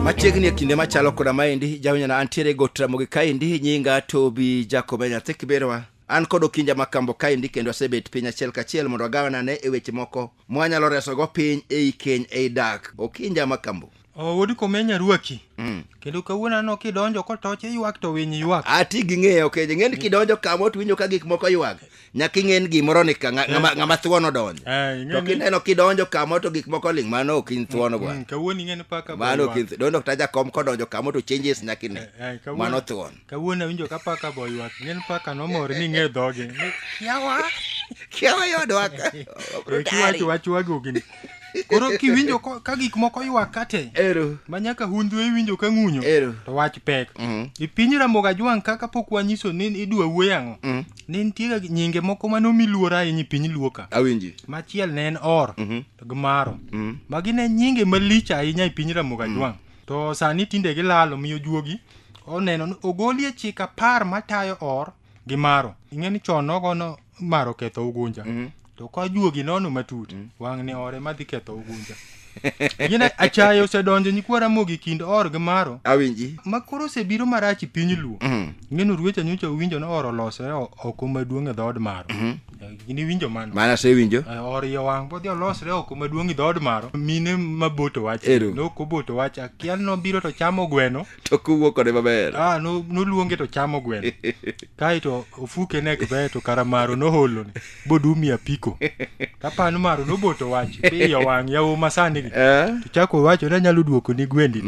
machiegni e kinde machalo koda maendi jawinana antiere go tramogi kaendi nyinga tobi jakobe nyathi kiberowa an kod okinja makambo kaendi kendo asebet piny achiel kachiel mondo agawanane e weche moko mwanyalo resogo piny ei keny ei dak okinja makambo Oh, wuod komenya ruaki mm. kendo kawuono aneno kidonjo kotoch iywak to winy ywak ati ging'eyo ok okay. ing'eni kidonjo kama otwinjo ka gik moko ywak nyaka ing'en gimoro ni ka ng'ama ng'a, eh. thuon odonjo eh, to kineno kidonjo kama to gik moko ling mano ok in thuon gwa mm, mm, kawuono ing'eni paka mano ok in donjo kata jakom kodonjo kama to changes nyaka ine eh, mano thuon Kawuono awinjo ka paka bo ywak. Ng'en paka nomor ni ng'e dhoge. Kiawa. Kiawa yodwa ka. Kiwacho wachwa go gini. Koro kiwinjo ka gik moko ywak kate. Ero. Ma nyaka hundhu iwinjo ka ng'unyo. Ero. To wach pek. Mm. I piny Ramoga Jwang kaka pok wanyiso ni idwa wuoyo ang'o. Mm. Ne nitie nyinge moko ma nomi luora ahinya e piny Luo ka. Awinji. Machiel ne en Or. Mm-hmm. To gi Maro. Mm-hmm. Magi ne nyinge malich ahinya e piny Ramoga Jwang. To sani tinde gilalo miyo juogi oneno ni ogolie chik apar matayo or gi maro. Ing'e ni chon nogo no maro ketho ugunja. Mm. To ka juogi nono matut, mm. wang' ni ore madhi ketho ugunja. Gine achayo osedonjo nyikwara mogi kind or gi maro. Awinji. Ma koro osebiro marach piny luo. Mm. Ng'enu ruwecha nyocha uwinjo ni or olosore oko maduong' e dhood maro. Mm. Eh, Gin iwinjo mano. Mano asewinjo. Eh, Oriyo wang' bodhi olosre oko maduong' i dhood maro. Mine ma boto wach. Ero. Nok oboto wach. Akia nobiro to chamo gweno. To kuwuok kode maber. Ah, no- noluonge to chamo gweno. Kaeto ofuke nek be to kara maro noholone. Bodumi apiko. Tapano maro noboto wach. Piyo wang' yawo masani gi. Eh? To chako wacho ni anyalo duoko ni gwendi.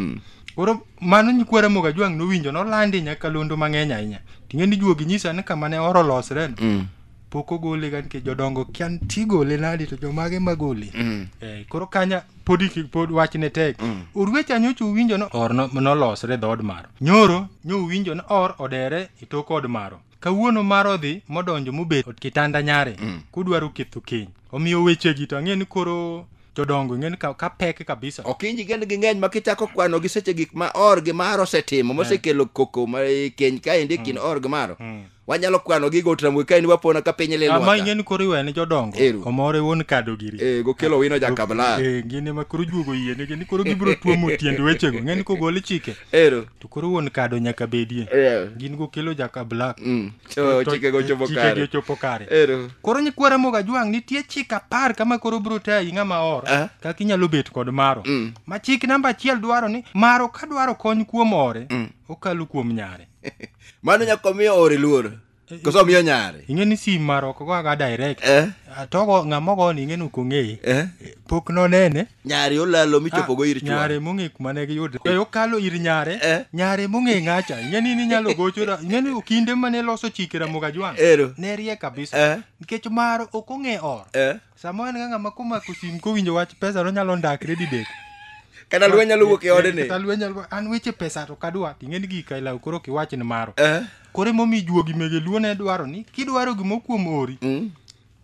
Koro mano nyikwa Ramogi Ajwang' nowinjo nolandi e nyakalondo mang'eny ahinya ting'e ni juogi nyisa ni kama ne oro losre no, Mm. pok ogole ga nikech jodongo kia nitie igole nadi to jomage magole Mm. Eh, koro kanya podi ki- pod wach ne tek Mm. orwecha nyocha uwinjo no or no- nolosre dhood maro nyoro nyo uwinjo no or odere e tok od maro kawuono mar odhi modonjo mobet od kitanda nyare Mm. kudwaro ketho keny omiyo wechegi to ang'e ni koro jodongo ing'eni ka, ka pek kabisa okinji gen gi ng'eny ma kichako kwano gi seche gik ma or gi mar osetimo mosekelo koko ma e keny kaendi e kind or gi maro wanyalo kwano gi gotramwe kaendi wapona ka piny ama lilwaka ing'eni koro iwene jodongo Ero. omore wuon kado giri Eh, gokelo wino jakabla Eh, gini ma koro juogo yie nigi ni koro gibiro tuomo tiend wechego ing'eni kogol chike ero to koro wuon kado nyaka bedie Eh, gin gokelo jaka black mm. Cho- chikego ochopo chikegi kare. ochopo kare Ero. koro nyikwa ramogi ajwang' nitie chik apar kama koro biro tayi ng'ama or Ah. kaka inyalo bet kod maro Mm. ma chik namba achiel dwaro ni maro ka dwaro kony kuom ore Mm. okalo kuom nyare mano nyaka omiyo ore luor koso omiyo nyare ing'e ni sim maro ok goga direct Eh, atogo ng'ama ogoni ing'e ni ok ong'eye eh. pok nonene nyare olalo michopogo ir chwore nyare mong'e kuma ne giyude e okalo ir nyare eh? nyare mong'e ng'acha ing'eni ni nyalo gocho ing'eni kinde mane loso chike ramoga jwang ero ne rie kabisa eh? nikech mar ok ong'e or eh? sama en ga ng'ama komako sim kowinjo wach pesa no nyalo ndakre didek kata lweny nyalo wuok e ode ni kata lweny nyalo an weche pesa to kadwa ing'eni gik ailaw koro kiwach ni maro eh? kore momi juogi mege luo ne dwaro ni kidwaro gimo kuom ori mm.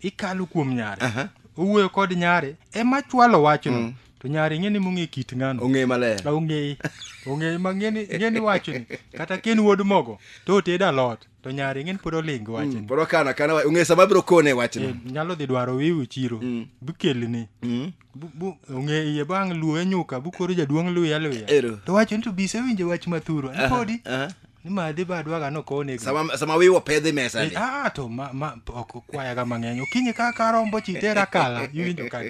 ikalo kuom nyare Aha. owuoyo kod nyare ema chwalo wachno to nyare ing'e ni mong'e kit ng'ano ong'e maler Ka ong'eye ong'eye ma ng'eni ng'eni wachoni kata ken wuod mogo to oted alot to nyare ng'eni pod oling wachoni pod okano akana wa- ong'e sama biro kone wachno Eh, nyalo dhi dwaro wiwu chiro bikelni Bu- bu- ong'e iye bang' luwe nyuka bukoro jaduong' luya luya Ero. to wacho ni to bise winjo wach mathuro ni podi aha. ni madhi ba dwaga nokone sama sama wiwa pedhi mesa ni ah to ma, ma ok kwayaga mang'eny okinyi ka karombo chitera kala iwinjo ka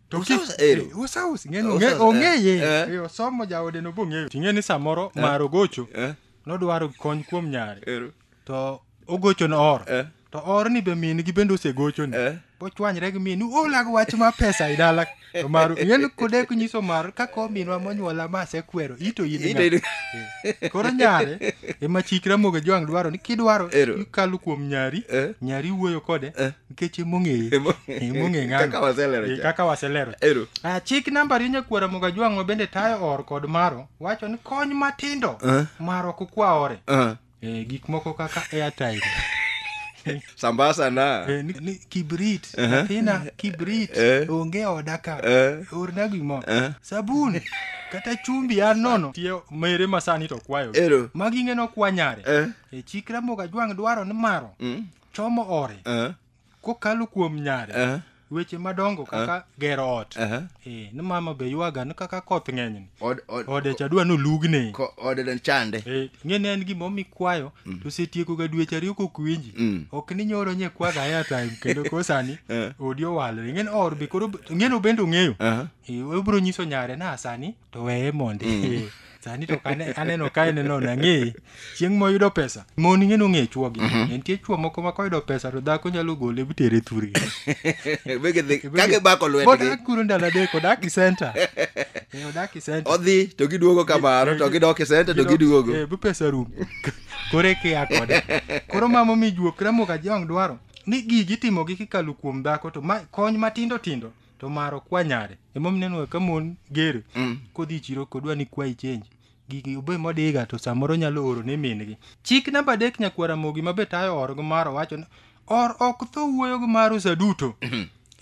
to ki- Usaus, ero. eh, usaus ng'eny Usaus, ong'e- ong'eye eh, eh. Eh, osomo jaode nobong'eyo ting'e ni samoro maro gocho eh. nodwaro kony kuom nyare ero to ogocho no or Eh. to or ni be min gi bende osegocho ni Eh. bochwanyre gi min olag wach ma pesa i dala to maru ng'en kodek nyiso mar kako minwa monyuola ma asekwero ito in Ito in- ng'a? koro nyare ema chik ramogi jwang' dwaro ni kidwaro Ero. ikalo kuom nyari Eh. nyari wuoyo kode Eh. nikech emong'eye Emo- emong'e ng'ano Kaka waselero Eh, cha. kaka waselero Ero. Ah, chik namba ariyo nyakwara moga jwang' ma bende tayo or kod maro wacho ni kony matindo Eh. maro kokwa ore Ah. eh, gik moko kaka airtime sambasa na eh, ni, ni kibrit athina kibrit Eh. onge oda ka Eh. orna gimo Eh. sabun kata chumbi an nono tie mere masani to kwayo Ero. maging'eno kwanyare Eh. e chikra moga jwang' dwaro ni maro Mm. chomo ore Eh. kokalo kuom nyare Eh, weche madongo kaka gero ot eh. Eh, ni mama be ywaga ni kaka koth ng'enyni Od- od- ode cha dwa nolugne ko- ode ne chande Eh, ng'eni en gima omi kwayo to setiekoga dweche ariyo kok winji Mm. ok ni nyoro nye kwaga airtime kendo ko sani Eh. odi owalore ng'eni or be koro ng'eni obende ong'eyo Aha. Eh, obiro nyiso nyare na sani to weye mondi mm. sani to aneno ka en no nang'eyi chieng' moyudo pesa mon ing'e nong'e chwogi mhm. nitie chwo moko ma koyudo pesa to dhako nyalo gole bitere thurgi kakibakoluetgikuro ndalo adek odak i senta eh, odak i senta odhi to giduogo kamano eh, to gidok i senta to giduogo eh, bu pesa rum koro ekiya kode koro mamo mijuok ramoka jiwang' dwaro ni gigi timogi kikalo kuom dhako to kony matindo tindo to mar ok kwa nyare emomiyo ineno ka mon gere Mm. kodhi e chiro kodwa ni kwayi change gigi obe modiga to samoro nyalo oro ne min-gi chik namba adek nyakwara mogi ma be tayo orgo mar owacho ni or ok tho wuoyogo mar usa duto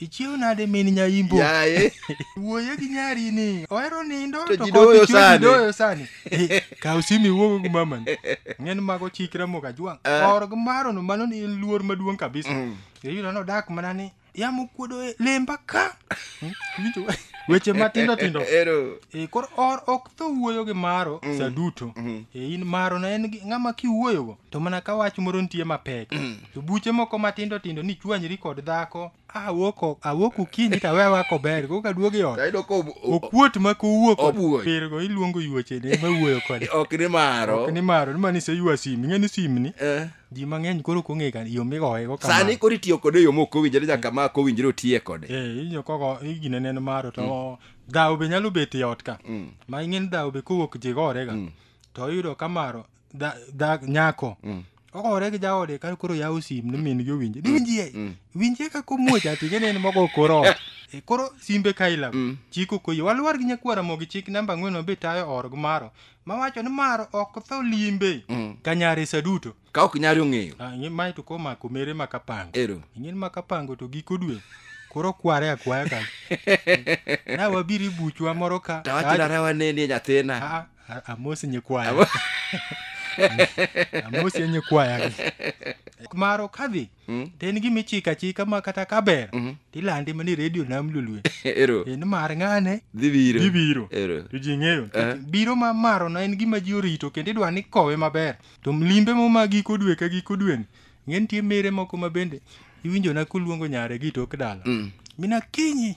ichiew nade min nyaimbo yaye wuoye gi nyari ni ohero nindo To to ji kod doyo chwe ji sani. doyo sani Eh, kaw simu iwuogo gi mamani ng'en mago chikra mokajwang' Eh. orgo marono mano ni en luor maduong' kabisa Mm. iyudo nodak mana ni yamo kuodo e lemba ka Hmm, winjo we- weche matindo tindo Ero. e, koro or ok tho wuoyo gi maro mm. saduto mm. e, in maro na en gi- ng'ama kiwuoyogo to mana ka wach moro nitie mapek mm. to buche moko matindo tindo ni chwanyri kod dhako awoko awok okinyi to awewa kober koka duogi ot Tayudo ko ob- ob- okuot ma kowuok Owuoyo. pirgo iluongo yuochene ma wuoyo kode ok ni maro. ok ni maro ni mani se ywa sim ing'e ni simni Eh. ji mang'eny koro ok ong'e ka- yo migoyego kama. sani koro itiyo kode e yo mok owinjore nyaka ma ok owinjore otiye kode Eh, inyo kogo igine neno maro to dhawo be nyalo bet e ot ka ma ing'eni dhawo be kowuok ji gorega to iyudo ka maro dha- dha- nyako ogore gi jaode ka koro yawo sim ni min gi owinje dinjie winjie ka komuoch ati ing'eni en mogo kor ot E, koro simbe kaila chiko koyi walwar gi nyakwara mogi chik namba ang'wen mabe tayo org maro mawacho ni maro ok tho limbe Mm. ka nyare sa duto ka ok nyari ong'eyo Ah, ing'e mae to komako mere makapango ero ing'e ni makapango to giko dwe koro kware akwaya ka na wabiri buchwa moro ka tawachirara wanenie nyathina Ah, ah, amos nyikwaya Amo- amos nyikwaya maro kadhi Mm. to en gima ichiko achika ma kata ka ber Mhm. to ilande mana e redio nam lolwe Ero. en mar ng'ane Dhi biro. dhi biro Ero. to ji ng'eyo Eh. biro ma marono en gima ji orito kendo idwa ni kowe maber to limbe mo ma giko dwe ka giko dweni ng'e nitie mere moko ma bende iwinjona koluongo nyare gi tok dala Mm. mina kinyi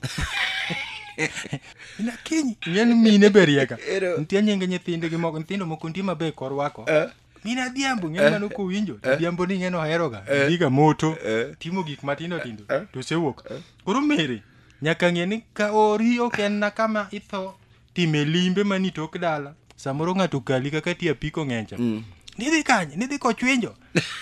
mina kinyi ng'e ni mine berieka Ero. nitie nyinge nyithindegi moko nyithindo moko nitie maber korwako Eh. min adhiambo ng'e mano kowinjo to adhiambo ni ng'eno oheroga dhiga moto Eh. timo gik matindo tindo to osewuok koro mere nyaka ng'e ni ka ori ok en na kama itho time limbe mani tok dala samoro ng'ato kali kaka ti apiko ng'encha nidhi kanye nidhi kochwinjo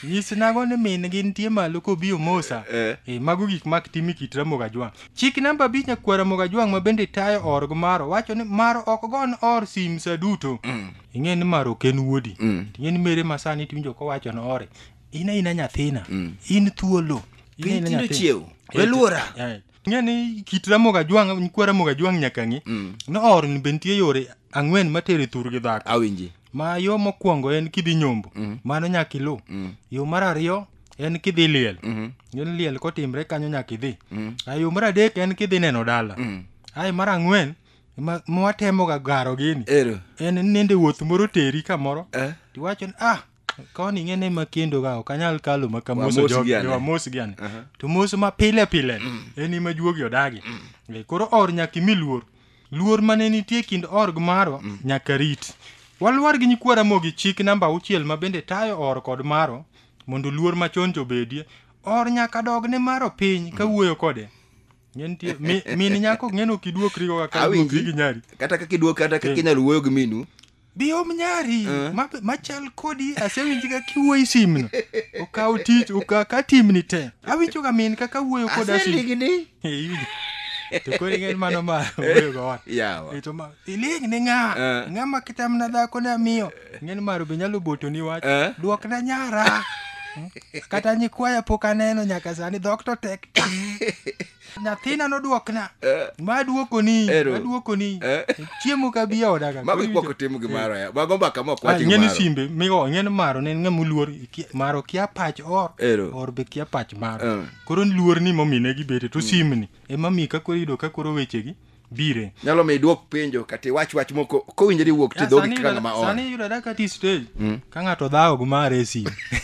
nyis nago ni min gi nitie malo kobi omosa Eh. e, mago gik mak timi kit ramogo ajwang' chik namba abich nyakwar ramogo ajwang' ma bende tayo org maro wacho ni maro ok gon or sim sa duto ing'e ni mar ok en wuodi Mm. ing'e ni mere ma sani tiwinjo kowacho ni ore in aina nyathina in thuolo In Piny aina tindo nyathina. chiew. Eh, Weluora. eh. ing'e ni kit ramoga jwang' nyikwa ramoga jwang' nyaka ng'e ni or ni be nitie yore ang'wen matere thur gi dhako awinji ma yo mokwongo en kidhi nyombo mano nyaka iluw yo mar ariyo en kidhi liel ng'e ni liel kotimre kanyo nyaka idhi Ah, yo mar adek en kidhi neno dala ae mar ang'wen ma ma watemoga garo gini Ero. en nende wuoth moro teri kamoro Eh? tiwacho ni ah koni ing'e ni makendo ga ok anyal kalo makamoso Wamos gi ane." wamos gi ane Aha. to mos ma pile pile en ima juogi odagi Eh, koro or nyaka imi luor luor mane nitie kind org marwa nyaka rit walwar gi nyikwa ramogi chik namba auchiel ma bende tayo or kod maro mondo luor machon jobedie or nyaka dog ne maro piny ka wuoyo kode Ng'e nitie- mi- min nyako ng'e no kiduokrigo kaka Awinji. iduokri gi nyari kata kaka iduok kata kaka inyalo wuoyo gi minu biom nyari Eh. ma- machal kodi asewinjiga kiwuoyi simno okaw tich oka- ka timni te awinjoga min kaka wuoyo koda sim aseligni Eh, iwinjo. to koro ing'e mano ma wuoyogo wan yawa Eh, to ma- iling ne ng'a Eh. ng'a ma kitamna dhako ne amiyo Ng'en maro be nyalo boto ni wach. Eh? Duok na nyara. Hmm? Kata nyikwaya pok aneno nyaka sani dhok to tek. Nyathina noduokna. Eh? Ma duoko ni, ma duoko ni. Eh? Chiemo ka bi oda ka. Mago ikwako timo gi maro ya. Mago mbaka mok wacho ah, maro. Ng'en simbe, migo ng'en maro ne ng'e muluor maro kia pach or. Ero. Or be kia pach maro. Eh. Koro luor ni momine gi bete to hmm. simni. Ema mi ka koro yudo ka koro wechegi. bire nyalo mi idwok penjo kata iwach wach moko kowinjore iwuok ti dhogi kaka ng'ama oa sani yudore kata i stage Mm. ka ng'ato dhawo gi mar esi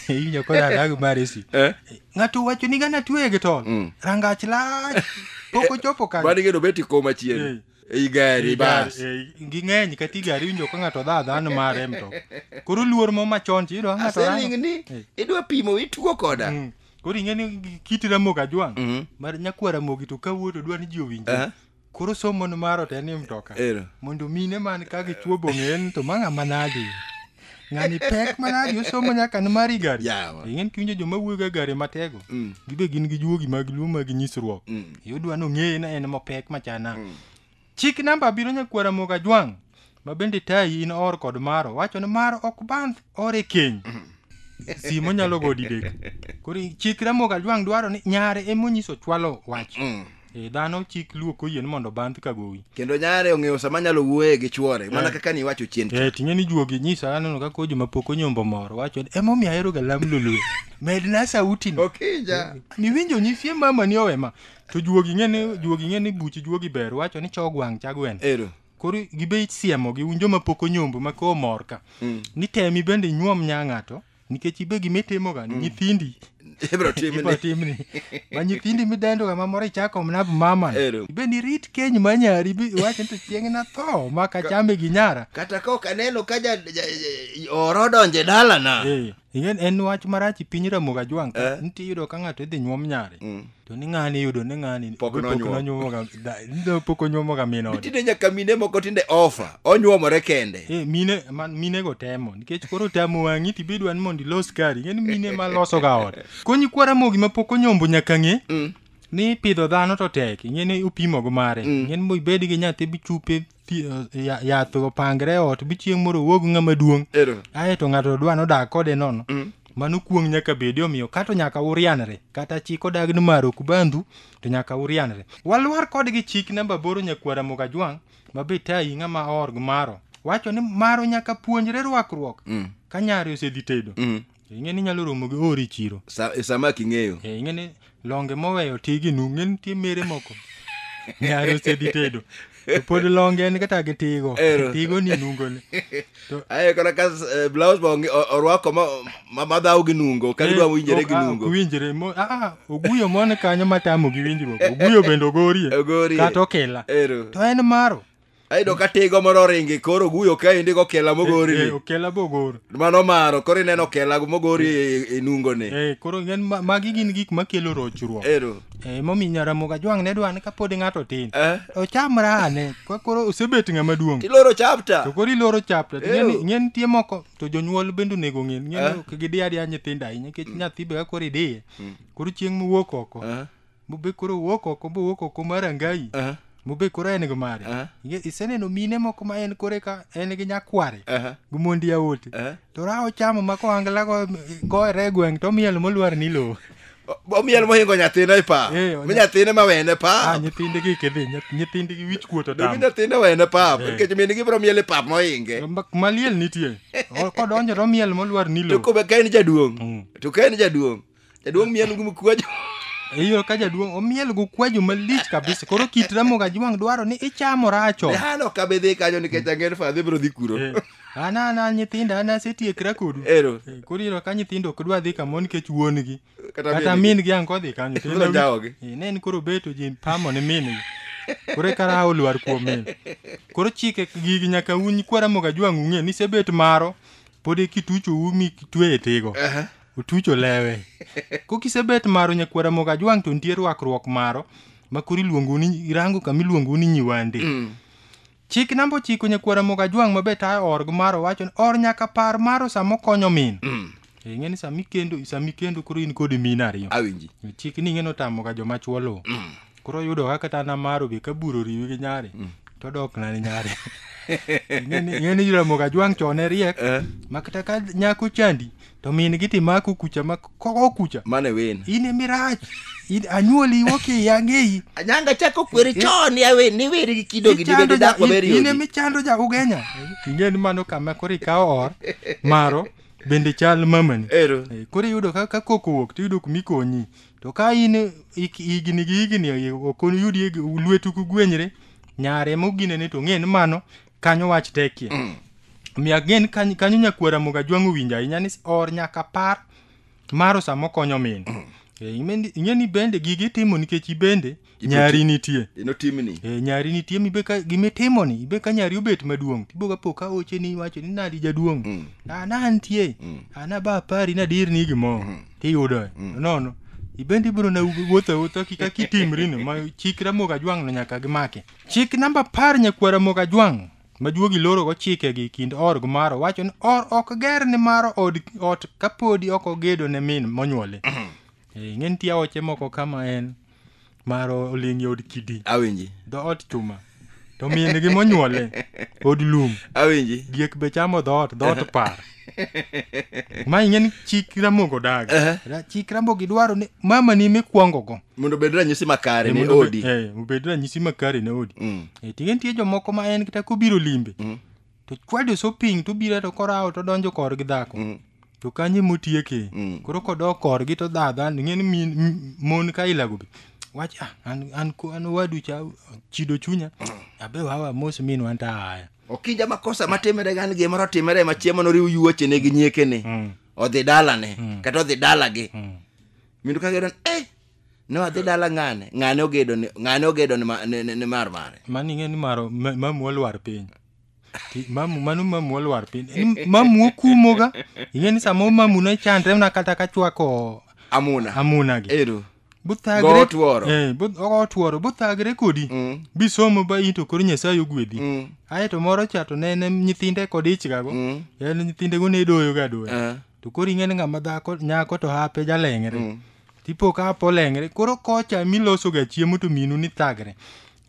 iwinjo ko dhawo gi mar esi Eh? ng'ato wacho ni gana tueye gi tol Mm. rangach lach pok ochopo kanyo mani geno beti koma chien ei gari bas Eh, ging'eny kata i gari iwinjo ka ng'ato dha dhano mare e mtoka koro luor mo machon to iyudo ka ng'ato rango- aselingni idwa pimo itugo koda Koro ing'e ni gi- kit Ramogi Ajwang' Mhm. mar nyakwar Ramogi to kawuo to dwa ni ji owinje. Eh. Koro somo ni maro to en e mtoka. Ero. Mondo mine man ka gichuo bong'en to mang'a manadi. Ng'ani pek manadi osomo nyaka ni mari gari. Yawa. Ing'en kiwinjo joma wuoyo ga gari matego. Mm. Gibe gin gi juogi mag luo mag nyisruok. Mm. Yudwa nong'eye na en mapek machana. Chik namba abiriyo nyakwar Ramogi Ajwang' ma bende tayi in or kod maro wacho ni maro ok bandh or e keny. Simo nyalo go didek. Koro chik Ramogi Ajwang' dwaro ni nyare ema onyiso chwalo wach. Mm. E, dhano chik luo koyie ni mondo bandh ka gowi. kendo nyare ong'eyo sama nyalo wuoye gi chwore mana Eh. kaka niwacho chien cha. Eh, ting'e ni juogi nyisa aneno ka kojo ma pok onyombo moro wacho ni emomiyo aheroga lam lolwe. Medna sauti no. Okinja. Niwinjo nyifie mama ni owema. to juogi ng'e ni juogi ng'e ni buchi juogi ber wacho ni chog wang' chagwen ero koro gibe siemo gi unjo ma pok onyombo ma koo mor ka mm. ni temi bende inyuom nya ng'ato nikech ibe gima itimo ga mm. nyithindi ibro timni ma nyithindi midendo ga mamoro ichako mna mama ibe ni rit keny ma nyari iwacho ni to chieng' na tho ma kachame gi nyara kata ka ok aneno ka ja, ja, ja, oro donje dalana e. Ing'en en wach marach i piny Ramogi Ajwang' ka Eh. nitie iyudo ka ng'ato idhi nyuom nyare to ni ng'ani iyudo ni ng'ani Pok nonyuom. nonyuomoga da- nido pok onyuomoga min ode. tinde nyaka mine moko tinde ofa onyuomore kende Eh, mine man- minego temo nikech koro tamo wang'i to ibed wan mondo ilos kari ing'eni mine ma losoga ot konyi kwa Ramogi ma pok onyombo nyaka ng'e ni pidho dhano to tek ing'eni upimogo mare ing'eni mo ibed gi nyathi bichupe pi- eh, ya- yath opangre e ot bi chieng' moro owuog ng'ama duong' Ero. ae to ng'ato dwa nodag kode nono Mm. mano kuong' nyaka bedi omiyo kato nyaka urianre kata chik odag ni maro kubandhu to nyaka urianre walwar kodgi chik namba boro nyakwara mogajwang' ma be tayi ng'ama org maro wacho ni maro nyaka puonjre rwakruok Mm. ka nyare osedhi tedo Mm. ing'e ni inyalo romo gi ori chiro Sa- e sama king'eyo Eh, ing'e ni longe moweyo tigi nu ng'e nitie mere moko nyare osedi tedo to pod longe en kata gi tigo Ero. tigo ni nungone aye kata ka eh, blouse ma onge- o- orwako ma- ma- madhaw gi nungo ka gidwa winjore gi nungo winjire oguyo mone kanyo matamo gi winjruok oguyo bende ogorie Ogorie. kata okela ero to en maro ayudo ka tigo moro oringi koro guyo kaendi gokela mogori Eh, eh, okela bogor mano maro koro ineno okela mogori e- e nungone Eh, koro en ma- magi gin gik makelo rochruok ero Eh, momiyo nyaramoga jwang' ne dwa ni kapod ng'ato tin Eh? ochamra ane Ko- koro osebet ng'ama duong' tiloro chapta to koro iloro chapta Ew. ng'e nitie moko to jonyuol bende onego ng'e ng'e Eh. ni ok gidi adiya nyithindo ahinya nikech nyathi be ka koro idiye koro chieng' mowuok oko Eh? mobe koro owuok oko mowuok oko mar angayi Aha, mobe koro en gi mare Aha. Inge- iseneno mine moko ma en kore ka en gi nyakware aha, gi mondi yawote aha. to ra ochamo ma kohangla go- goyre e gweng' to miel molwar ni lowo O- omiel mohingo nyathine e pap Eh, onya- mi nyathine ma wene ah pap nyithindegi kidhi nyath- nyithindegi wich kuot mi otamo nyathine wene pap Eh. nikech min gibiro miel e pap mohinge Ma- maliel nitie O- kodonjo to miel molwar ni to lowo kobe ka en jaduong' Mm. to ka en jaduong' Jaduong' miel gi mkwajo. Iyo ka jaduong' omiel go kwajo malich kabisa. Koro kit ramo ga jwang' dwaro ni ichamo racho. Hano ka be dhi kanyo nikech ang'er fa dhi bro dhi kuro. Eh, An an an nyithinda an asetiekra kodu. Ero. Eh, Koro iro ka nyithindo ok dwa dhi kamoro nikech wuon gi. Kata Kata min min gi ango dhi kanyo. to Ibiro en- jawogi. Eh, Ne en koro beto ji pamo ni min gi. Koro eka raha olwar kuom min. Koro chike gigi nyaka un kwara moga jwang' ung'e ni sebet maro. Pod e kitucho umi kitwe e tigo. Aha. otucho lewe kokisebet maro nyakwara mogo ajwang' to nitie rwakruok maro ma koro iluongo ni irango kama iluongo ni nyiwande Mm. chik namba ochiko nyakwara mogo ajwang' ma bet ae org maro wacho ni or nyaka par maro sama okonyo min Mm. Eh, ing'e ni sama ikendo sama ikendo koro in kod min ariyo Awinji. chik ni ing'e notamoga joma chwo luwo koro yudo ka kata namaro be kaburo riwi gi nyari mm. to dok na ni nyari ing'e ni jolamo ga jwang' chon e riek eh. ma kata ka nyako chandi to min gi timako kucha ma koko kucha mane wen in emirach anyuoli woki yang'eyi anyanga chako kweri eh. chon yawe ni weri gi kido gi dibede dako beri in emichando ja ugenya ing'e ni mano kama koro ikawo or maro bende chal mamani ero eh, koro iyudo ka koko wuok to iyudo kumikonyi To ka in ik- higni gi higni ok oyudi lwetu kugwenyre nyare moginene to ng'e ni mano kanyo wach tekie. Omiyo again kanyo kanyo nyakwara moga jwang'o winjo ahinya ni or nyaka par maro sama okonyo min. Eh, ing'e ni- ing'e ni bende gigi itimo nikech ibende nyari nitie ino timni e, nyari nitie mibe ka gimitimo ni ibe ka nyari obet maduong tibo ka poka oche ni wacho ni nadi jaduong mm. a na nitie mm. a na ba pari na dir ni gimo mm. tiyudo mm. nono ibende ibro na wuotho awuotha kika kitimri ni ma chik ramoga jwang no nyaka gimake chik namba par nyakwara moga jwang majuogi loro go chike gi kind or gi maro wacho ni or ok ger ni maro od ot kapodi ok ogedo ne min monyuole mm-hmm. Eh, ing'e nitie aoche moko kama en mar oling' yod kidi awinji dhoot chuma to min gi monyuole od lum awinji diek be chamo dhoot dhoot par ma ing'e ni chik ramogo daga Ehe. Ra- chik ramogi dwaro ni mama ni mikwongogo mondo obed ranyisi makare Eh, ne mondo obe- odi eh, obed ranyisi makare ne odi Mm. Eh, ting'e nitie jomoko ma en kata kobiro limbe Mm. to chwadi so piny to bire to korawo to donjo kor gi dhako mm. to kanye motieke mm. koro kodok kor gi to dhadha ng'e ni min mon ka ilago bi wach ah, an an ko an wadu cha chido chunya abe wawa mos min wan ta haya okija makosa matimere gan gi moro timere ma chiemo no riu yuoche ne gi nyieke ne mm. odhi dala ne mm. kata odhi dala gi mm. mindu ka gero eh ne wadhi dala ng'ane ng'ane ogedo ni ng'ane ogedo ni ma- ni- ni- ni mar mare mano ing'e ni maro ma- mamu olwar piny Ti- mamu mano mamu olwar piny Ni mamu okumoga ing'e ni sama mamu ne chandre na kata ka chwako amuna amuna gi ero buthagre Go tworo. eh bu- go tworo buthagre kodi Mm. bisomo ba into koro nyasaye ogwedhi Mm. aye to moro cha to ne ne nyithinde kod ichgago Mm. en nyithindego ne doyoga doyo Eh. to koro ing'e ni ng'ama dhako nyako to hape jaleng're Tipo ka apo lengre, koro kocha miloso ga chiemo to minu ni thagre.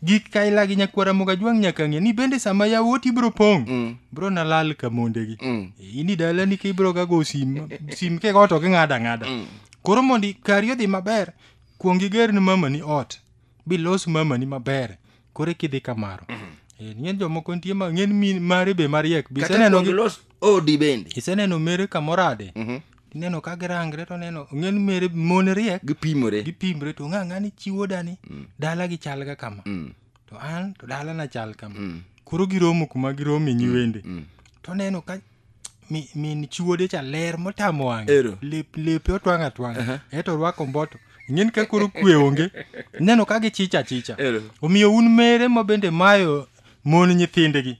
Gik ka ila gi nyakwara moga jwang' nyaka ng'e ni bende sama yawuot ibro pong'. Mm. Bro na lal ka monde gi. Mm. E, Ini dala ni kibro ga go sim, sim ke goto ki ng'ada ng'ada. Mm. Koro mondi kari odhi maber, kuongi ger ni mama ni ot. Bilos mama ni maber. Kore kidhi kamaro. Mm. E, ng'en jomoko nitie ma ng'en min mare be mariek. Kata Biseneno kuongi gi los odi bende iseneno mere kamorade Mhm. ineno ka girangre to neno ong'en mere mon riek gipimore gipimre to ng'a ng'ani chiwo dani dala gi chal ga kama Mm, to an to dala na chal kama mm, koro giromo kuma giromo e nyiwende mm. to neno ka mi- min chiwode cha ler motamo wang'e Ero. Lep- lepe otwang' atwang' eto orwako mboto ing'eni ka koro kwe onge ineno ka gichicha chicha Ero. omiyo un mere ma bende mayo mon nyithindegi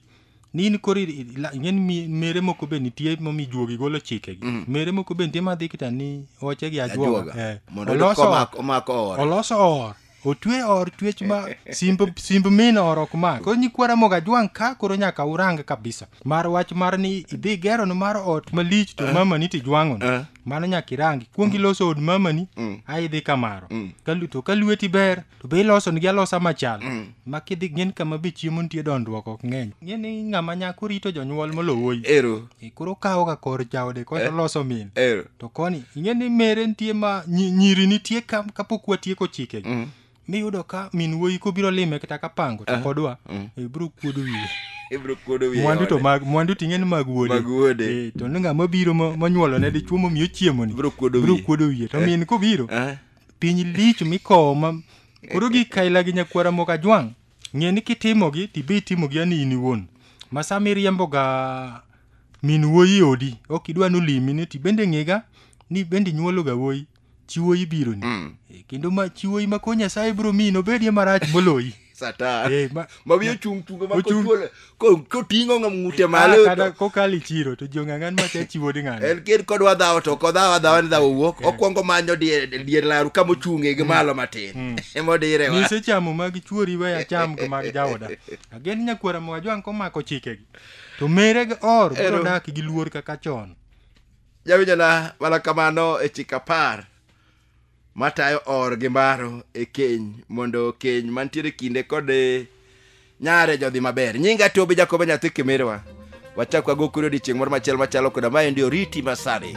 ni in koro i- i- la- ing'eni mi- mere moko be nitie momi juogi golo chikegi mere moko be nitie madhi kita ni oche gi ajuoga Ajuoga. Eh, Mondo oyud oloso komak- or- omak or. oloso or otwe or twech ma simb simb min or ok mak koro nyikwara moga jwang ka koro nyaka urang kabisa mar wach mar ni idhi gero ni mar ot malich to mamani to ijwang'o Eh. mano nyaka irangi kuong iloso od mamani ai idhi kamaro Kalu- to ka lweti ber to be ilosonigi alosa machal ma kidhi ng'en kama be chiemo nitie dondruok ok ng'eny ng'e ni ng'ama nyako rito jonyuol molowoi ero e, koro kawoga kor jaode koro loso min ero to koni ing'e ni mere nitie ma nyi- nyiri nitie ka- kapok watieko chike Mm. miyudo ka min wuoyi kobiro lime kata ka pango to kodwa Mm. e, biro kuodo wiye ibro kuodo wiye mwandu to ode. mag mwandu ting'e ni mag wuode Mag wuode. Eh, to ni ng'ama biro mo- monyuolone dichuo momiyo chiemoni Biro kuodo biro wiye. kuodo wiye to min kobiro Eh. piny lich mikowo ma koro gi kaila gi nyakwara moko ajwang' ng'e ni kitimogi tibe itimogi ani in iwuon ma sama iriemboga min wuoyi odi ok idwa nolimi ni tibende ng'ega ni bende inyuologa wuoyi chi wuoyi bironi kendo ma chi wuoyi ma ko nyasaye biro miyi nobedie marach moloyi satan Eh, ma- ma wiye ochung' tungo ma Ochung'. kochuole ko- koting'o ng'am ng'ute Ah, malo kata kokalo e chiro to jong'ang'an ma cha chiwo ni ng'ano en kid kodwa dhawo to kodhawo adhawa ni dhawo wuok okwongo manyo dier dier laru kama ochung'e gi malo matin emodire wa nyise chamo mag chuori we acham gi mag jaoda agen nyakwara ma wajwang' komako chikegi to mere gi or biro Ero. dak gi luor kaka chon jawinjona mana kamano e chik apar matayo or gi mbaro e keny mondo keny mantiere kinde kod eh, nyare jodhi maber nyinga tobe jakobo nyathi kimirwa wachak wago kuri odiechieng' moro machielo machalo koda maendi oriti masani